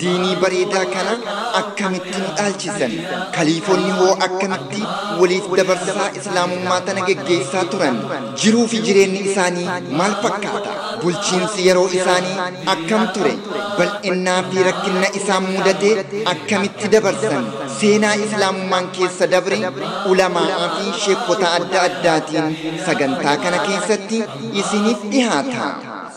Diinii bareedaa kana akkamitti nu dhaalchisan? Kaliifonni hoo akkamitti waliif dabarsaa Islaamummaa tana geggeessaa turan? Jiruu fi jireenni isaanii maal fakkaata? Bulchiinsi yeroo isaanii akkam ture? Bal'innaa fi rakkinna isaan mudate akkamitti dabarsan? Seenaa Islaamummaan keessa dabre ulamaa'aa fi sheekkota adda addaatiin sagantaa kana keessatti isiniif dhihaata.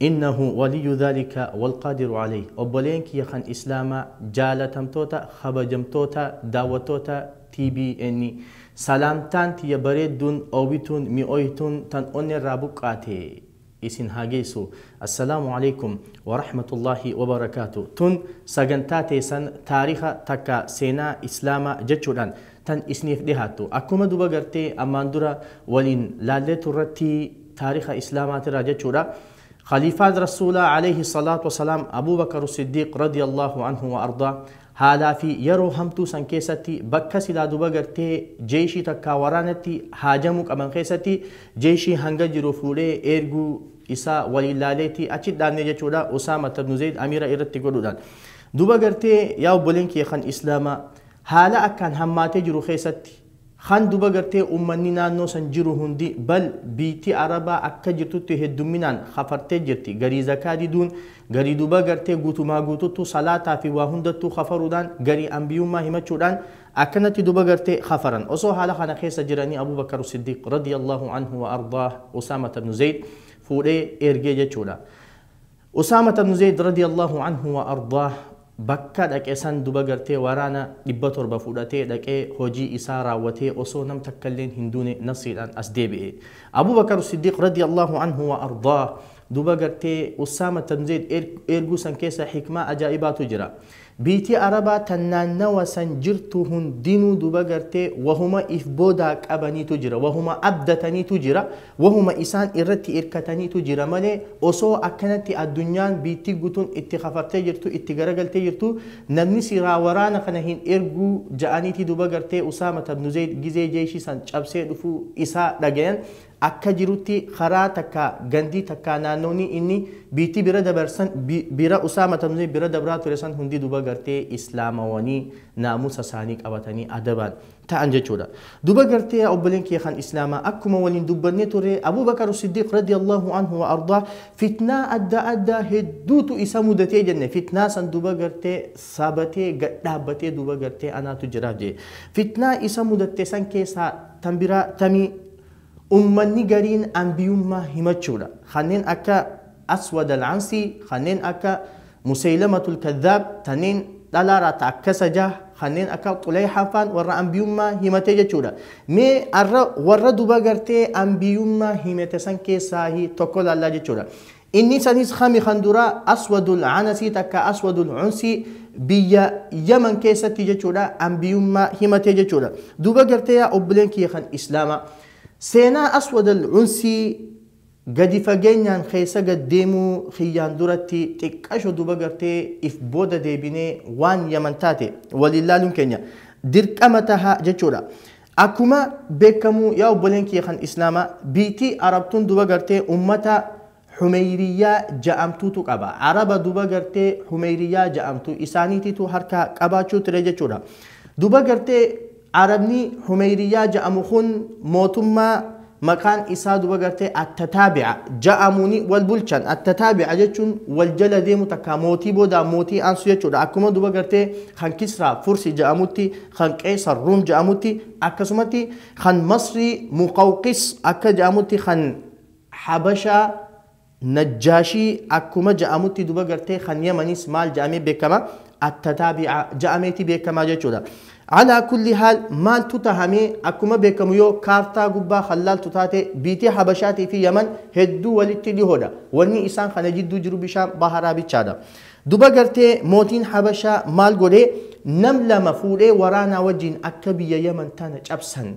Innahu waliyyu dhaalika walqaadiru alayh Obboleen kiyya kan Islaamaa jaalatamtoota kabajamtoota daawwattoota TBN Salaamtaan tiyya bareedduun oowwituun mi'ooytuun tan onneerraa buqqaate isin haa geessu Assalaamu Aleykum warahmatullaahi wabarakaatu Tun sagantaa teessan taariikha takka seenaa Islaamaa jechuudhaan tan isniif dhihaattu. Akkuma duba gartee ammaan dura waliin laallee turratti taarikha islaamaatirraa jechuudha. Khaliifaan Rasuulaa Aleeyhi Salaatu Wasalaam Abuu Bakaru Siddiiq Radiyallaahu Anhu Wa Ardaa haalaa fi yeroo hamtuu san keessatti bakka silaa duba gartee jeeyshii takkaa waraanatti haajamuu qaban keessatti jeeyshii hanga jiru fuudhee eerguu isaa waliin laaleeti achi dhaabne jechuudha Usaamata ibnu Zeeyd amiira irratti godhuudhaan. Duba gartee yaa obboleen kiyya kan islaamaa Haala akkaan hammaatee jiru keessatti, kan duba gartee ummanni naannoo san jiru hundi bal biitti Arabaa akka jirtutti heddumminaan kafartee jirti, garii zakaa diduun, garii duba gartee guutumaa guututtu salaataa fi waa hundattuu kafaruudhaan, garii anbiyummaa himachuudhaan akkanatti duba gartee kafaran. Osoo haala kana keessa jiranii Abuu Bakar Siddiiq, radiyallaahu anhu wa ardaah, Usaamata ibnu Zeeyd fuudhee ergee jechuudha. Usaamata ibnu Zeyd radiyallaahu anhu wa ardaah bakka dhaqe san duba gartee waraana 700 fudhatee dhaqee hojii isaa raawwatee osoo nam takkalleen hin duune nasriidhaan as deebi'e. Abuu Bakar Siddiiq radiyallaahu anhu wa ardaah duba gartee Usaamata ibnu Zeyd eerguu san keessa hikmaa ajaa'ibaatu jira. Biyti Arabaa tan naannawa san jirtu hundinuu duba gartee wahuma if boodaa qabaniitu jira, wahuma abdataniitu jira, wahuma isaan irratti irkataniitu jira malee osoo akkanatti addunyaan biyti gutun itti kafartee jirtu, itti garagaltee jirtu namni siraa waraana kana hin erguu ja'aniiti duba gartee Usaamata ibnu Zeyd gizee jeyshi san cabsee dhufuu isaa dhagayan akka jirutti karaa takka gandii takka naannooni inni biitti bira dabar san bira usaa matamzee bira dabraa ture san hundi duba gartee islaamawanii naamusa saanii qabatanii adabaan ta'an jechuudha duba gartee yaa obboleen kiyya kan islaamaa akkuma waliin dubbannee ture abuu bakar siddiiq radiyallahu anhu wa ardaa fitnaa adda addaa hedduutu isa mudatee jenne fitnaa san duba gartee sabatee gad dhaabbatee duba gartee anaatu jiraaf jee fitnaa isa mudatte san keessaa tan biraa tamii Ummanni gariin anbiyummaa himachuudha. Kanneen akka Aswad Al-Ansii, kanneen akka Museyilamatul Kadhaab, tanneen dhalaa raata akka Sajaah, kanneen akka Xuleyhaa faan warra anbiyummaa himatee jechuudha. Mee arra warra duba gartee anbiyummaa himete san keessaahi tokko laallaa jechuudha. Inni saniis kami kan duraa Aswadul Anasii takkaa Aswadul Unsii biyya Yaman keessatti jechuudha Anbiyummaa himatee jechuudha. Duuba gartee yaa obboleen kiyya kan Islaamaa seenaa Aswadal Unsii gadi fageenyaan keessa gad deemuu kiyyaan duratti xiqqasho duuba gartee if booda deebinee waan Yaman taate waliin laaluun keenya dirqama taha jechuudha. Akkuma bekkamu yaa obboleen kiyya kan islaama biytii arab tun duba gartee ummata humeyriyya ja'amtutu qaba araba duba gartee humeyriyya ja'amtu isaanititu harka qabaachu tire jechudha duba gartee arabni humeyriyya ja'amu kun mootumma maqaan isaa duba gartee attataabi'a ja'amuni wal bulchan attataabi'a jechun wal jala deemu takka mootii boda mootii ansu jechudha akkuma duba gartee kan kisra fursi ja'amutti kan Qeesar Ruum jedhamutti, akkasumatti kan Masrii Muqawqis akka jedhamutti, kan Habashaa Najjaashii akkuma jedhamutti duba gartee kan Yamanis maal jedhamee beekama? Attataabi'a jedhameeti beekama jechuudha. Alaa kulli haal maaltu tahamee akkuma beekamu yoo kaartaa gubbaa kan laaltu taate biitii Habashaatii fi Yaman hedduu walitti dhihoodha. Wanni isaan kana jidduu jiru bishaan baharaa bichaadha. Duba gartee mootiin habashaa maal godhee nam lama fuudhee waraanaa wajjiin akka biyya yaman tana cabsan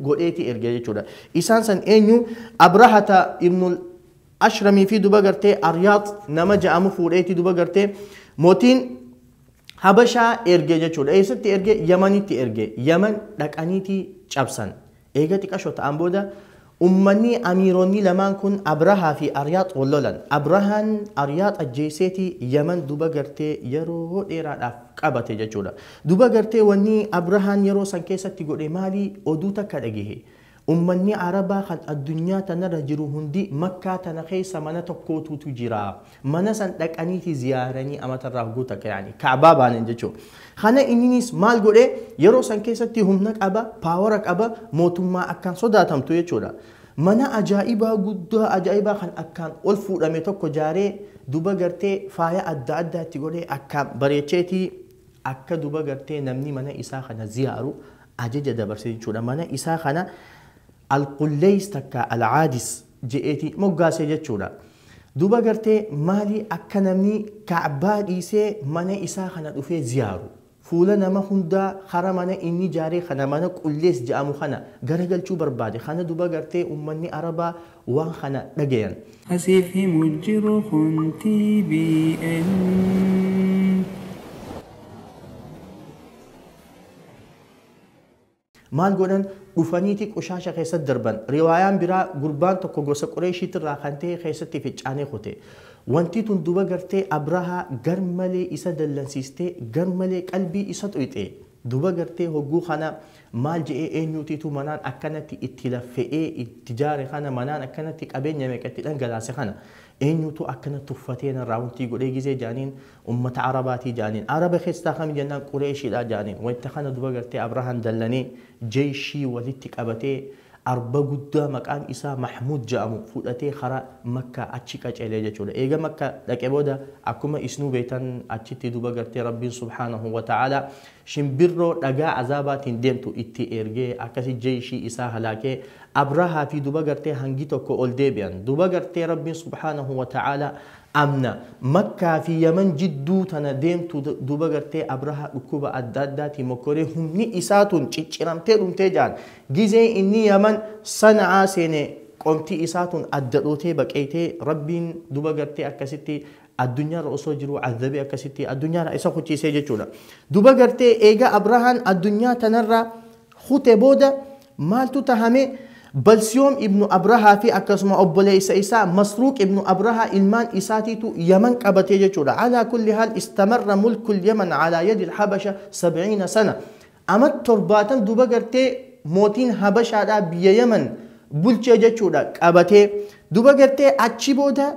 godheeti erge jechuudha. Isaan san eenyu abrahata ibnul ashramii fi duba gartee aryaax nama ja'amu fuudheeti duba gartee mootiin habashaa erge jechuudha. Eessatti erge yamanitti erge yaman dhaqaniiti cabsan. Eega xiqasho ta'aan booda ummanni amiironni lamaan kun Abrahaa fi Ariyaax wal lolan. Abrahaan Ariyaax ajjeesseeti Yaman duba gartee yeroo dheeraadhaaf qabate jechuudha. Duba gartee wanni Abrahaan yeroo san keessatti godhe maali? Oduu takka dhagehe. Ummanni Arabaa kan addunyaa tanarra jiru hundi Makkaa tana keessa mana tokkootuutu jira. Mana san dhaqaniiti ziyaaranii amata irraa hogguu takka yaani ka'baa baanan jechuu. Kana inninis maal godhe yeroo san keessatti humna qaba, paawara qaba, mootummaa akkaan sodaatamtu jechuudha. Mana ajaa'ibaa guddaa ajaa'ibaa kan akkaan ol fuudhame tokko jaaree duba gartee faaya adda addaa itti godhee akkaan bareecheeti akka duba gartee namni mana isaa kana ziyaaru ajaja dabarse jechuudha. Mana isaa kana Al-Qulleys takkaa Al-Aadis je'eeti moggaase jechuudha. Duuba gartee maali akka namni Ka'baa dhiisee mana isaa kana dhufee ziyaaru? Fuula nama hundaa hara mana inni ijaaree kana mana Qulleys je'amu kana garagalchuu barbaade kana duba gartee ummanni Arabaa waan kana dhagayan. Ka siif himu jiru kun TBN. Maal godhan? Dhufaniiti qushaasha keessatti darban. Riwaayaan biraa gurbaan tokko gosa Qureeshiitirraa kan ta'e keessatti ficcaanee kute. Wanti tun duba gartee Abrahaa garmalee isa dallansiistee garmalee qalbii isa xuyxe. Duba gartee hogguu kana maal je'ee eenyuutiitu manaan akkanatti itti laffe'ee itti jaare kana manaan akkanatti qabeenya meeqa itti dhangalaase kana eenyuutu akkana tuffatee narraa wantii godhee gizee jaaniin ummata Arabaatii jaaniin. Araba keessaa kami jennaan Qureeshidha jaaniin. Wayta kana dura gartee Abrahaan dallanee jeyshii walitti qabatee arba guddaa maqaan isaa Mahmuud ja'amu fudhatee kara Makkaa achi qaceelee jechuudha. Eega Makka dhaqe booda akkuma isnuu beeytan achitti duba gartee Rabbiin subhaanahu wa ta'aalaa shimbirroo dhagaa azaabaatiin deemtu itti ergee akkasi jeyshii isaa halaakee Abrahaa fi duba gartee hangi tokko ol deebi'an. Duba gartee Rabbiin subhaanahu wa ta'aalaa Amna makkaa fi yaman jidduu tana deemtu duba gartee abraha dhukkuba adda addaatii mokkoree humni isaa tun cicciramtee dhumtee jaan gizee inni yaman sana'aa seene qomti isaa tun adda dhootee baqeeytee rabbiin duba gartee akkasitti addunyaarra osoo jiruu azzabee akkasitti addunyaarraa isa kuchiisee jechuudha duba gartee eega abrahaan addunyaa tanarraa kute booda Maaltu tahame? Balsiyoom ibnu Abrahaa fi akkasuma obboleeysa isaa Masruuq ibnu Abrahaa ilmaan isaatiitu Yaman qabate jechuudha. Alaa kulli haal istamarra mulkul Yaman alaa yadil Habasha sab'iina sana. Amat torbaatan duba gartee mootiin Habashaadhaa biyya Yaman bulche jechuudha qabatee. Duba gartee achi booda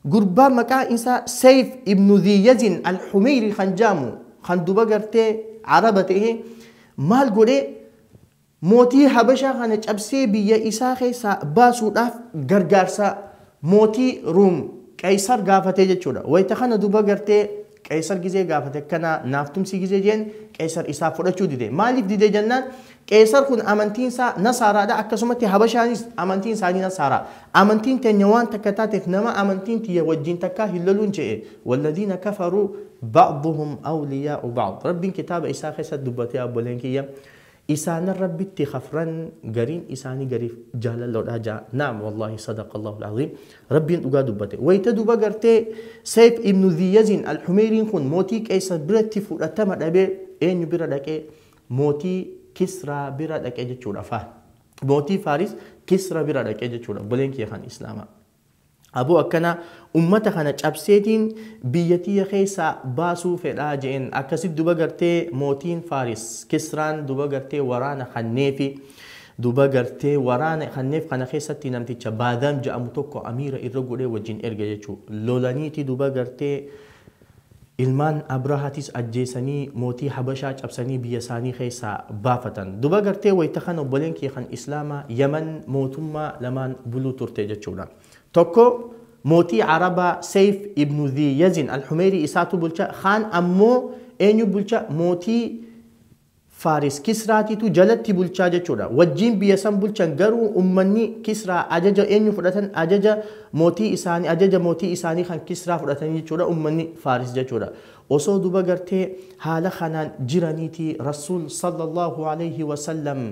Gurbaa maqaan isaa Seyf ibnu Dhii Yazin Al-Humeyrii kan jedhamu kan duba gartee Araba ta'e maal godhe mootii Habashaa kana cabsee biyya isaa keessaa baasuudhaaf gargaarsa mootii Ruum Qeysar gaafate jechuudha. Wayta kana duba gartee Qeesar gizee gaafate akkana naaf tumsii gizee jeen Qeesar isaaf fudhachuu dide. Maaliif dide jennaan Qeesar kun amantiin isaa Nasaaraadha akkasumatti Habashaanis amantiin isaanii Nasaaraa. Amantiin teenya waan takka taateef nama amantiin tiyya wajjiin takkaa hin loluun je'e. Walladiina kafaruu ba'duhum awliyaa'u ba'd. Rabbiin kitaaba isaa keessatti dubbate yaa obboleen kiyya. Isaanan Rabbitti khafran gariin isaani gariif jaalalloodha ja'a. Na'am wallahi sadaqallahul aziim. Rabbiin dhugaa dubbate. Wayta duba gartee Sayf ibnu Dhi Yazin Al-Humeyriin khun mootii Qeysar biratti fudhatama dhabe eenyu bira dhaqe? Mootii Kisraa bira dhaqe jechuudha. Fa. Mootii Faaris Kisra bira dhaqe jechuudha. Obboleen kiyya khan Islaamaa. Aboo akkana ummata kana cabseetiin biyya tiyya keessaa baasuu fedha je'een. Akkasitti duba gartee mootiin Faaris, Kisraan duba gartee waraana kanneefi. Duba gartee waraana kanneef kana keessatti namticha Baadam je'amu tokko amiira irra godhee wajjin erge jechu'u. Lolaniiti duba gartee. Ilmaan Abrahaatis ajjeesanii mootii Habashaa cabsanii biyya isaanii keessaa baafatan. Duba gartee wayta kana obboleen kiyya kan Islaamaa Yaman mootummaa lamaan buluu turte jechuudha. Tokko mootii Arabaa Seyf ibnu Dhi Yazin Al-Humeyrii isaatu bulcha, kaan ammoo eenyu bulcha mootii Faaris, Kisraatiitu jalatti bulchaa jechuudha. Wajjiin biyya san bulchan garuu ummanni Kisraa ajaja eenyu fudhatan? Ajaja mootii isaanii, ajaja mootii isaanii kan Kisraa fudhatanii jechuudha ummanni Faaris jechuudha. Osoo duba gartee haala kanaan jiraniiti Rasuul, Sallallaahu aleyhi wa sallam,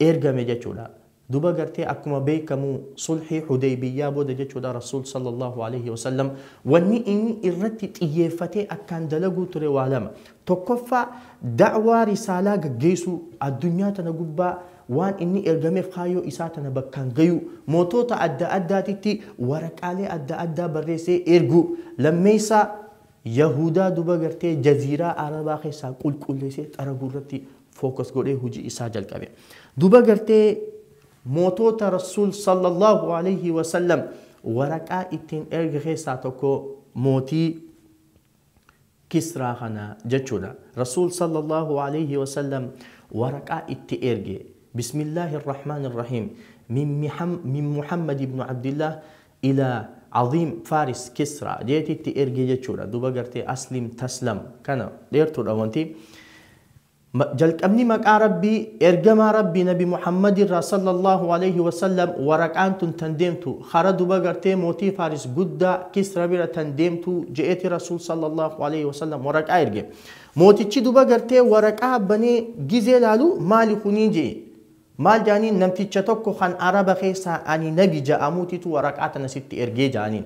ergame jechuudha. Duba gartee akkuma beekamu sulhii hudeybiyyaa booda jechuudha Rasuul sallallaahu aleeyhi wasallam wanni inni irratti xiyyeeffatee akkaan dalaguu ture waa lama. Tokkoffaa da'waa risaalaa gaggeeysuu, addunyaa tana gubbaa waan inni ergameef kaayyoo isaa tana bakkaan gayuu, mootoota adda addaatitti waraqaalee adda addaa barreessee erguu, lammeeysaa yahuudaa duba gartee jaziiraa arabaa keessaa qulqulleeysee xaraguu irratti focus godhee hujii isaa jalqabe. Duuba gartee mootoota Rasuul sallallahu alayhi wa sallam waraqaa ittiin erge keessaa tokko mootii Kisraa kana jechuudha. Rasuul sallallahu alayhi wa sallam waraqaa itti erge. Bismillaahi Rahmaan Rahiim. Min Muhammad ibn Abdillah ilaa Azim Faris Kisra jeeti itti ergi jechuudha duba gartee Aslim Taslam kana dheertudha wanti jalqabni maqaa rabbii ergamaa rabbii nabi Muhammad irraa sallallahu alayhi wasallam waraqaan tun tan deemtu hara duba gartee mootii Faris guddaa Kisra bira tan deemtu je'eeti rasuul sallallahu alayhi wasallam waraqaa erge mootichi duba gartee waraqaa banee gizee laalu maali kunii je'e Maal ja'aniin namticha tokko kan araba keessaa ani nabi ja'amuutitu waraqaa tana sitti ergee ja'aniin.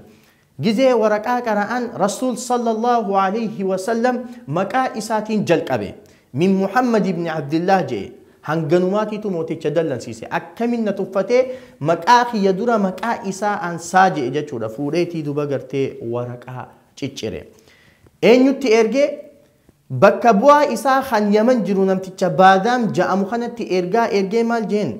Gizee waraqaa qara'an Rasuul sallallaahu aleeyhi wasallam maqaa isaatiin jalqabe. Min Muhammad ibn Abdillaah je'e. Hanganumaatitu mooticha dallansiise. Akkamin na tuffatee maqaa kiyya dura maqaa isaa ansaa je'e jechuudha. Fuudheetii duba gartee waraqaa ciccire. Eenyutti erge? Bakka bu'aa isaa kan Yaman jiru namticha Baadaam ja'amu kanatti ergaa ergee maal jeen?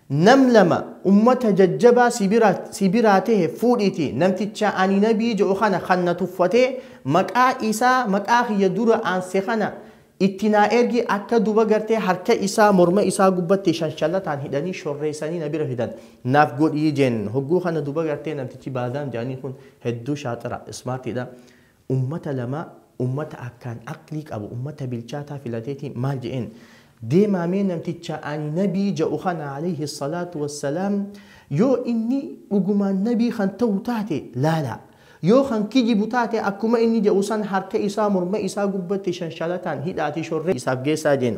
Nam lama ummata jajjabaa si bira si biraa tehe fuudhiitii namticha ani nabii ja'u kana kan na tuffatee maqaa isaa maqaa kiyya dura aanse kana itti naa ergi akka duba gartee harka isaa morma isaa gubbatti shanshalataan hidhanii shorreessanii na bira fidan naaf godhii jeen hogguu kana duba gartee namtichi Baadaam ja'anii kun hedduu shaaxira, smart, dha. Ummata lama ummata akkaan aqlii qabu ummata bilchaataa filateeti maal je'een deemaa mee namticha ani nabii ja'u kana aleyhi salaatu wassalaam yoo inni dhugumaan nabii kan ta'u taate laalaa yoo kan kijibu taate akkuma inni ja'u san harka isaa morma isaa gubbatti shanshalataan hidhaati shorree isaaf geessaa je'een.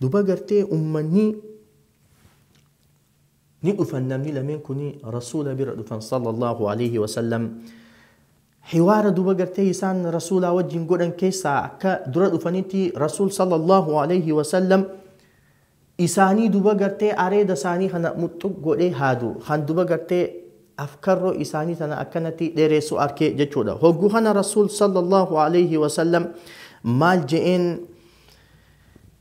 Duba garte ummani ni dhufan namni lamen kuni rasula bira dhufan sallallahu aleyhi wasallam hiwara duba garte isan rasula wajin godhan kesa akka dura dhufaniti rasul sallallahu aleyhi wasallam isani duba garte areda isani kana muxxuq godhe hadu kan duba garte afkarro isani tana akkanati dheresu arke jechudha hoggu kana rasul sallallahu aleyhi wasallam mal je'en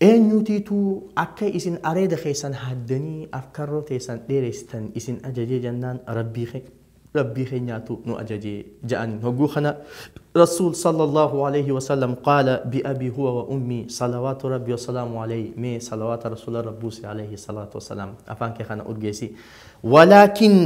Eenyuutiitu akka isin areeda keessan haaddanii afkarroo teessan dheereessitan isin ajajee jennaan Rabbii keenyaatu nu ajaje ja'aniin. Hogguu kana Rasuul sallallaahu aleeyhi wasallam qaala bi abii huwa wa ummii salawaatu Rabbii wa salaamu aleeyhi mee salawaata Rasuularra buusi aleeyhi salaatu wa salaam afaan kee kana urgeessi walaakin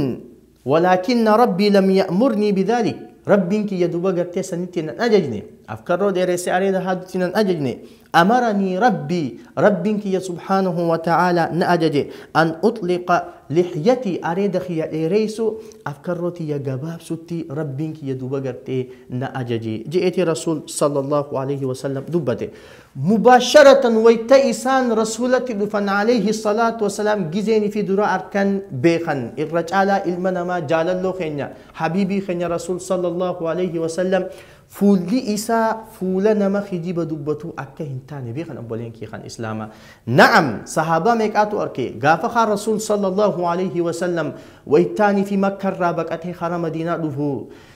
Walaakinna Rabbii lam ya'murnii bidhaalik, Rabbiin kiyya duuba gartee sanitti nan ajajne, afkarroo dheeressee areeda haadutti nan ajajne, amaranii Rabbii, Rabbiin kiyya subhaanahu wa ta'aalaa na ajaje, an uxliqa lihyatii, areeda kiyya dheereysuu, afkarroo tiyya gabaabsutti Rabbiin kiyya duuba gartee na ajaje je'eeti Rasuul, sallallahu aleyhi wa sallam, dubbate. Mubaasharatan wayta isaan Rasuulatti dhufan Aleeyhi salaatu wa salaam gizeen ifii dura arkan beekhan irra caalaa ilma namaa jaalalloo keenya Habiibii keenya Rasuul sallallaahu aleeyhi wa sallam fuulli isaa fuula nama kijiba dubbatuu akka hin taane beekhan obboleen kiyya kan Islaamaa Na'am sahaabaa meeqaatu arke gaafa kaan Rasuul sallallaahu aleeyhi wa sallam wayta ani fi Makka irraa baqatee kara Madiinaa dhufu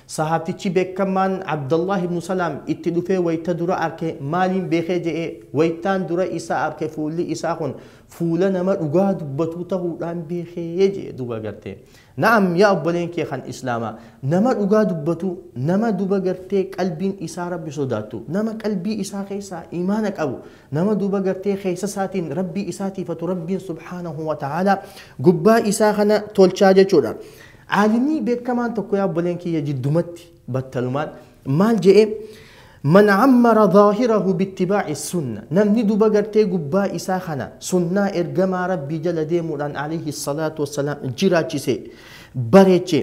Sahaabtichi beekkammaan Abdallaah ibnu Salaam itti dhufee wayta dura arke maaliin beekee je'ee, waytaan dura isa arke fuulli isaa kun fuula nama dhugaa dubbatuu tahuudhaan beekee je'e duuba gartee. Na'am yaa obboleen kee kan islaamaa, nama dhugaa dubbatu, nama duuba gartee qalbiin isaa Rabbi sodaattu, nama qalbii isaa keessaa iimaana qabu, nama duuba gartee keessa isaatiin Rabbii isaa tiifatu Rabbiin subhaanahu wa ta'aalaa gubbaa isaa kana tolchaa jechuudha. Aalimii beekkamaan tokko yaa obboleen kiyya jiddumatti battalumaan maal je'e Man ammara dhaahirahu bittibaa'i sunna namni duba gartee gubbaa isaa kana sunnaa ergamaa rabbii jala deemuudhaan alayhi salaatu wassalaam jiraachise bareeche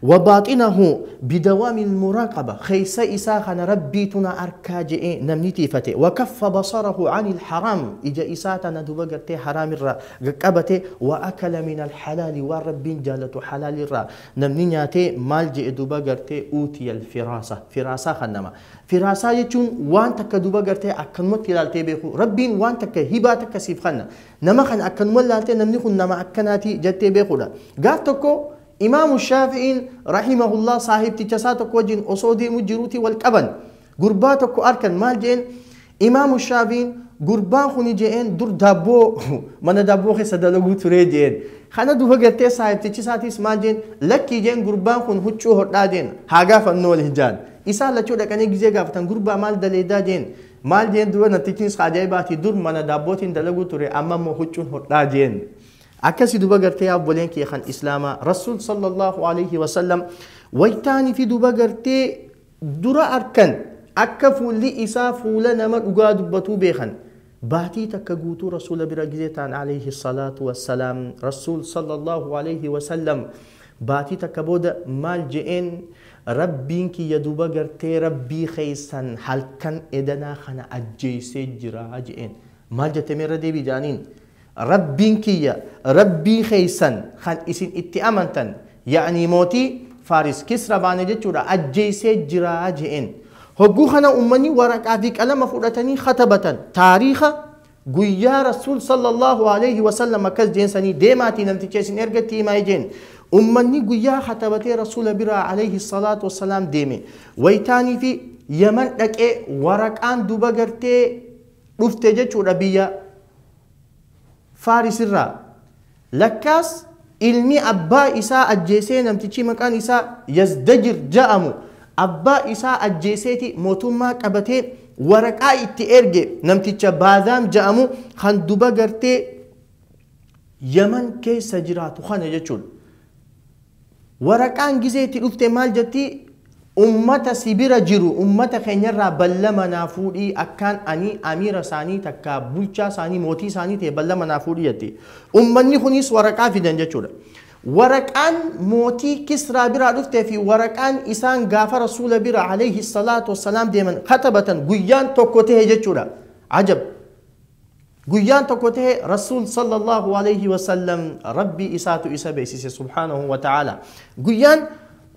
wa baaxinahu bidawaamil muraaqaba keessa isaa kana rabbiitu na arkaa je'ee namni tiifate wa kaffa basarahu anil haraam ija isaa tana duba gartee haraamirraa qabate wa akala min al halaali waan rabbiin jaalatu halaali irraa namni nyaate maal je'e duba garte uutiya al firaasa firaasaa kannama firaasaa jechuun waan takka duba garte akkanumatti ilaaltee beekuu rabbiin waan takka hibaa takka siif kanna nama kana akkanuma ilaaltee namni kun nama akkanaati jattee beekuudha gaaf tokko imaamu shaafi'iin rahimahullah saahibticha isaa tokko wajjin osoo deemu jiruuti wal qaban Gurbaa tokko arkan maal je'een imaamu shaafiin gurbaan kuni je'een dur daabboo mana daabboo keessa dalaguu turee je'een kana duba gartee saahibtichi isaatiis maal je'een lakkii je'een gurbaan kun huccuu hodhaa je'een haa gaafannoo wal hijaan isaan lachuu dhaqanii gizee gaafatan gurbaa maal daleedaa je'een maal je'een duba nattichiin isaa ajaa'ibaati dur mana daabbootiin dalaguu ture amma immoo huccuun hodhaa je'een akkasi duba gartee abboleen kee kan islaamaa rasuul sallallahu alaihi wasallam waytaanii fi duba gartee dura arkan, akka fuulli isaa fuula nama dhugaa dubbatuu beekan. Baatii takka guutuu Rasuula bira gizee taan aleyhi salaatu wa salaam. Rasuul sallallaahu aleyhi wa sallam baatii takka booda maal je'een? Rabbiin kiyya duuba gartee Rabbii keessan halkan edanaa kana ajjeessee jira je'een. Maal jette mee irra deebi'i ja'aniin. Rabbiin kiyya Rabbii keessan kan isin itti amantan, ya'nii mootii Faaris, Kisra baana jechuudha, ajjeessee jira je'een. Hogguu kana ummanni waraqaa fi qalama fudhatanii khatabatan, taariikha guyyaa Rasuul sallallaahu aleyhi wa sallam akkas je'een sanii deemaatii namticha isin erge itti himaa je'een. Ummanni guyyaa khatabatee Rasuula biraa aleyhi salaatu wa salaam deeme. Waytaanii fi Yaman dhaqee waraqaan duba gartee dhufte jechuudha biyya. Faaris irraa. Lakkaas ilmi abbaa isaa ajjeesee namtichi maqaan isaa Yazdajir ja'amu abbaa isaa ajjeeseeti mootummaa qabatee waraqaa itti erge namticha Baadhaam ja'amu kan duba gartee Yaman keessa jiraatu kana jechuudha. Waraqaan gizee itti dhufte maal jetti ummata si bira jiru ummata keenya irraa ballama naa fuudhii akkaan ani amiira isaanii takkaa bulchaa isaanii mootii isaanii ta'e ballama naa fuudhii jetti. Ummanni kuniis waraqaa fidan jechuudha. Waraqaan mootii kisraa biraa dhufte fi waraqaan isaan gaafa rasuula bira alayhi salaatu wassalaam deeman katabatan guyyaan tokko ta'e jechuudha. Ajab! Guyyaan tokko tahe Rasuul Sallallaahu Aleeyhi Wasallam Rabbii isaatu isa beeksise Subhaanahu Wa Ta'aala. Guyyaan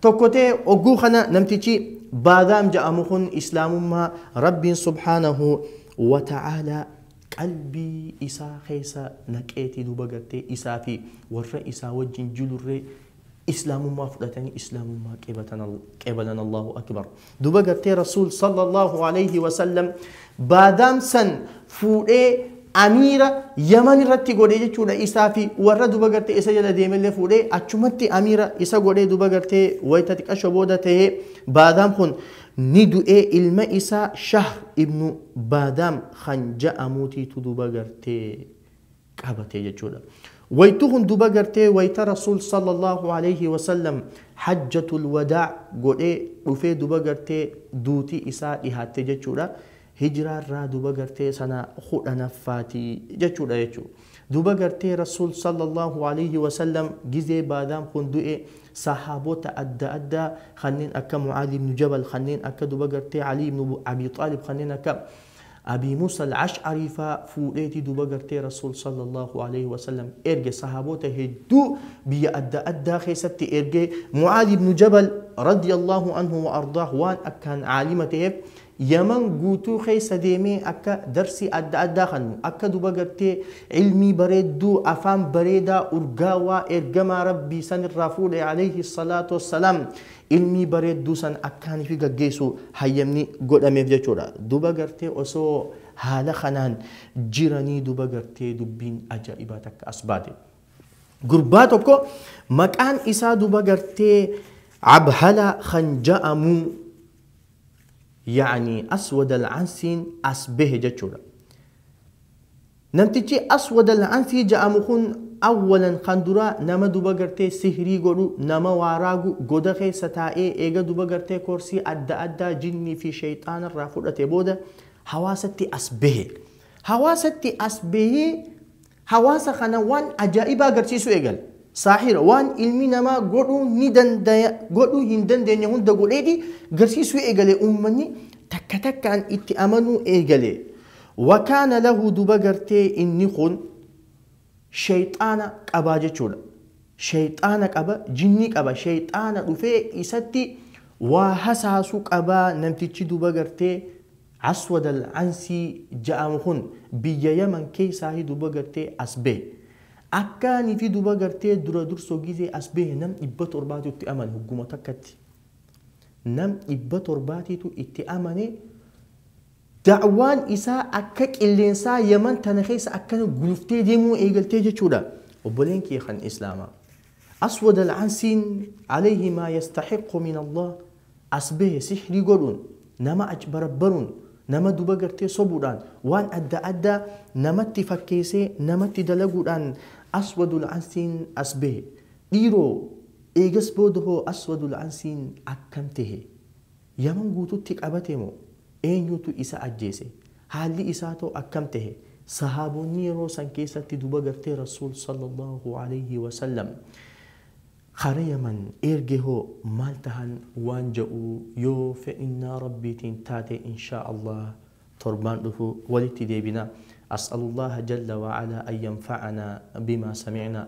tokko tahe ogguu kana namtichi Baadaam ja'amu kun Islaamummaa Rabbiin Subhaanahu Wa Ta'aala qalbii isaa keessa naqeeti duuba gartee isaa fi warra isaa wajjin julurree Islaamummaa fudhatanii Islaamummaa qeebalan Allaahu Akbar. Duba gartee Rasuul sallallahu alayhi wa sallam baadaam san fuudhee amiira Yaman irratti godhe jechuudha isaa fi warra duba gartee isa jala deemellee fuudhee achumatti amiira isa godhee duba gartee wayita xiqqasho booda ta'ee baadaam kun ni du'ee ilma isaa Shahr ibnu baadaam kan ja'amuutiitu duba gartee qabate jechuudha. Waytu kun duba gartee wayta Rasuul sallallahu alayhi wa sallam hajjatul wadaa godhee dhufee duba gartee duuti isaa dhihaatte jechuudha. Hijraa irraa duba gartee sana kudhanaffaati jechuudha jechuu. Duba gartee Rasuul sallallahu alayhi wa sallam gizee baadaan kun du'e sahaabota adda addaa kanneen akka Mu'aaz ibn Jabal kanneen akka duba gartee Alii ibn Abii Xaalib kanneen akka Abii Muusa Al-Ash'arii faa fuudheeti duuba gartee Rasuul Sallallaahu Aleyhi Wasallam erge Sahaaboota hedduu biyya adda addaa keessatti ergee Mu'aaz Ibnu Jabal Radiyallaahu Anhu Wa Ardaah waan akkaan Aalima taheef Yaman guutuu keessa deemee akka darsii adda addaa kannu akka duuba gartee Ilmii bareedduu afaan bareedaa urgaawaa Ergamaa Rabbii sanirraa fuudhe Aleyhi Salaatu Wassalaam ilmii bareedduu san akka ani fi gaggeessu hayyamni godhameef jechuudha. Duba gartee osoo haala kanaan jiranii duba gartee dubbiin ajaa'ibaa takka as baate. Gurbaa tokko maqaan isaa duba gartee Abhala kan ja'amu yaani aswad al-ansiin as bahe jechuudha. Namtichi Aswad Al-Ansii ja'amu kun awwalan kan duraa nama duba gartee sihrii godhu, nama waa raagu, goda keessa taa'ee eega duba gartee koorsii adda addaa jinnii fi sheyxaana irraa fudhate booda hawaasatti as behe. Hawaasatti as behee hawaasa kana waan ajaa'ibaa agarsiisuu eegale. Saahira, waan ilmi namaa godhuu ni dandaya godhuu hin dandeenye hunda godheeti garsiisuu eegale. Uummanni takka takkaan itti amanuu eegale. Wakaana lahu duba gartee inni kun sheyxaana qabaa jechuudha. Sheyxaana qaba, jinni qaba, sheyxaana dhufee isatti waa hasaasu qabaa namtichi duba gartee Aswad al-Ansii ja'amu kun biyya Yaman keysaahi duba gartee as bahe. Akkaanifi duba gartee dura durso gizee as bahe nam 700tu itti amane hogguma takkatti. Nam 700titu itti amane. Da'waan isaa akka qilleensaa Yaman tana keessa akkana guluftee deemuu eegaltee jechuudha. Obboleen kiyya kan Islaamaa. Aswad al-Ansiin, Alayhi maa yastahiqqu min Allah, as bahe sihrii godhuun, nama achbarabbaruun, nama duba gartee sobuudhaan, waan adda addaa namatti fakkeesee namatti dalaguudhaan Aswad al-Ansiin as bahe. Dhiiroo! Eegas booda hoo Aswad al-Ansiin akkam tahe? Yaman guututti qabate moo? Eenyutu isa ajjeese? Haalli isaatoo akkam tahe? Sahaabonni yeroo san keessatti duba gartee Rasuul, Sallallaahu aleyhi wa sallam, kara Yaman eerge hoo maal tahan waan ja'u yoo fedhinnaa Rabbiitiin taate inshaa Allaah torbaan dhufu walitti deebina. As'alullaaha jalla wa alaa an yanfa'anaa bimaa samicnaa.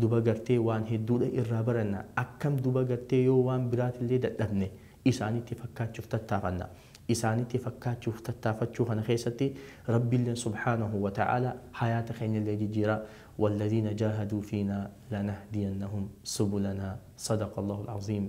Duba gartee waan hedduudha irraa baranna. Akkam duba gartee yoo waan biraatillee dadhabne isaanitti fakkaachuuf tattaafanna. Isaanitti fakkaachuuf tattaafachuu kana keessatti Rabbilleen subhaanahu wa ta'aalaa hayaata keenyallee jijjiira. Walladhiina jaahaduu fiinaa lanahdiyannahum subulanaa. Sadaqallahul aziim.